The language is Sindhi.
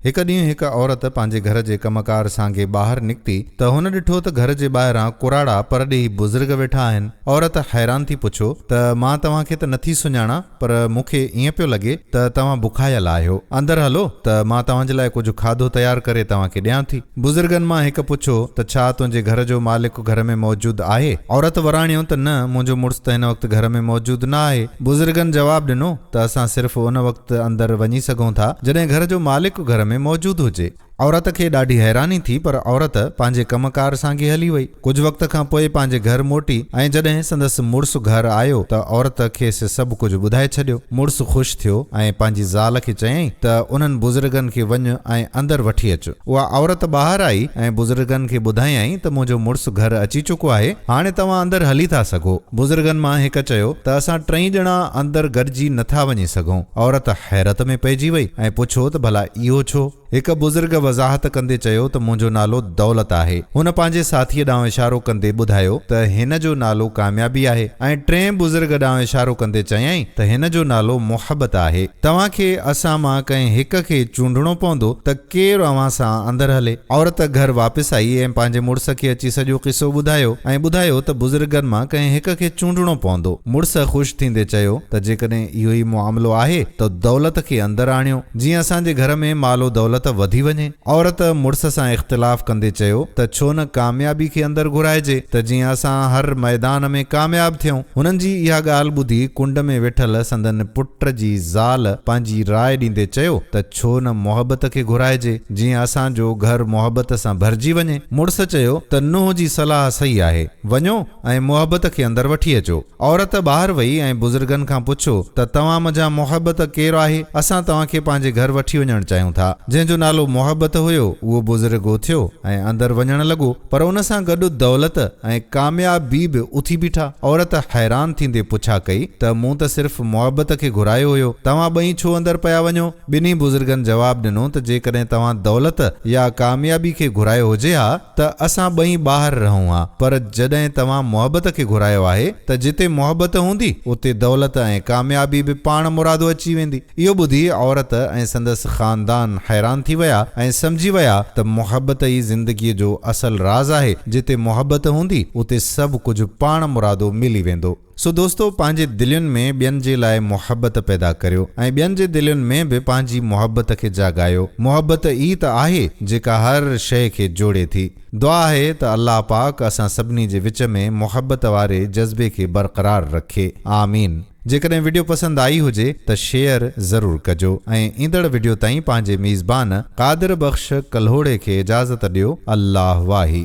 هڪ ڏينهن هڪ عورت پنهنجي گهر جي ڪم ڪار سانگي ٻاهر نڪتي ته هن ڏٺو ته گهر جي ٻاهران ڪراڙا پرڏيهي بزرگ ويٺا آهن. عورت حيران ٿي پڇيو ته مان توهان کي ته نٿي سڃاڻان پر مون کي ائين پيو لڳي ته توهان بکايل آهيو. اندر هلو ته مان توهان جي لاء ڪجهه کاڌو تيار ڪري توهان کي ڏيان ٿي. بزرگن مان هڪ پڇيو ته ڇا تنهنجي گهر جو مالڪ گهر ۾ موجود آهي؟ عورت وراڻيو ته نه منهنجو مڙس ته هن وقت گهر ۾ موجود نه آهي. بزرگن جواب ڏنو. ته اسان صرف ان وقت اندر وڃي سگهون ٿا جڏهن گهر جو مالڪ گهر ۾ موجود هجي. عورت کي ڏاڍي حيراني ٿي پر عورت پنهنجي ڪم ڪار سانگي هلي وئي. ڪجهه وقت کان پوء پنهنجي گهر موٽي ۽ جڏهن سندس مڙس گهر آيو ته عورت کيس سڀ ڪجهه ٻڌائي ڇڏيو. مڙس خوش ٿيو ۽ پنهنجي زال کي چيائين ته انهن بزرگن کي وڃ ۽ اندر وٺي اچ. اها عورت ٻاهر آئي ۽ بزرگن کي ٻڌايائين ته منهنجو مڙس گهر اچي چڪو آهي هاڻي توهان اندر هلي ٿا سگهو. بزرگن مان هڪ چيو ته اسان ٽئي ڄڻا اندر گڏجي نه ٿا وڃي سگهون. عورت حيرت ۾ پئجي وئي ۽ پڇيو ته ڀلا اهو ڇو؟ هڪ بزرگ وضاحت ڪندي چيو ته منهنجو نالو دولت آهي. هن پنهنجي ساٿيء ڏانهن اشارو ڪندي ٻڌايو ته هن جو نالو ڪاميابي آهي ۽ ٽئين بزرگ ڏانهن اشارو ڪندي چيائين ته هن جو نالو محبت آهي. توهان کي اسان مان ڪنهن هڪ کي چونڊڻو پوندو ته ڪير اوهان سان اندر هلي. عورت گهر واپس آئي ۽ پنهنجي مڙس کي اچي سڄو قصو ٻڌايو ۽ ٻڌايو ته بزرگن مان ڪنهن هڪ کي چونڊڻو پوندو. مڙس خوش ٿيندي چيو ته جيڪڏهن اهو ئي معاملو آهي ته دولت کي اندر آڻيو جيئن اسان جي گهر ۾ مال و دولت وڌي وڃي. عورت مڙس سان اختلاف ڪندي چيو ته ڇو نه ڪاميابي کي اندر گهرائجي ته جيئن اسان هر ميدان ۾ ڪامياب ٿيون. هنن جي اها ڳالهه ٻڌي ڪنڊ ۾ ويٺل سندن پٽ جي زال پنهنجي راء ڏيندي چيو ته. ڇو نه محبت کي گهرائجي، جيئن اسان جو گهر محبت سان ڀرجي وڃي. مڙس چيو ته نوح جي صلاح صحيح آهي. وڃو ۽ محبت کي اندر وٺي اچو. عورت ٻاهر وئي ۽ بزرگن کان پڇيو ته توهان منجهان محبت ڪير آهي؟ اسان توهان کي پنهنجي گهر وٺي وڃڻ چاهيون ٿا. جنهن جو نالو محبت هيو، اهو بزرگ اٿيو ۽ اندر وڃڻ لڳو، پر ان سان گڏ دولت، ۽ ڪامياب بي به اٿي بيٺا. عورت حيران ٿيندي پڇا ڪئي ته مون ته صرف محبت کي گهرايو هيو، توهان ٻئي ڇو اندر پيا وڃو؟ ٻنهي بزرگن جواب ڏنو ته جيڪڏهن توهان دولت يا ڪاميابي کي گهرايو هجي ها ته اسان ٻئي ٻاهر رهون ها، پر جڏهن توهان محبت کي گهرايو آهي ته جتي محبت هوندي اتي دولت ۽ ڪاميابي به پاڻ مرادو اچي ويندي. اهو ٻڌي عورت ۽ سندس خاندان حيران ٿي ويا ۽ سمجهي ويا ته محبت ئي زندگيء جو اصل راز آهي، جتي محبت هوندي، اتي سڀ ڪجهه پاڻ مرادو ملي ويندو. سو دوستو پنهنجي دلين ۾ ٻين جي لاء محبت پيدا ڪريو ۽ ٻين جي دلين ۾ به پنهنجي محبت کي جاڳايو. محبت ئي ته آهي جيڪا هر شيء کي جوڙي ٿي. دعا آهي ته الله پاڪ اسان سڀني جي وچ ۾ محبت واري جذبي کي برقرار رکي آمين جيڪڏهن وڊيو پسند آئي هجي ته شيئر ضرور ڪجو ۽ ايندڙ وڊيو تائين پنهنجي ميزبان قادر بخش ڪلهوڙي کي اجازت ڏيو الله واهي.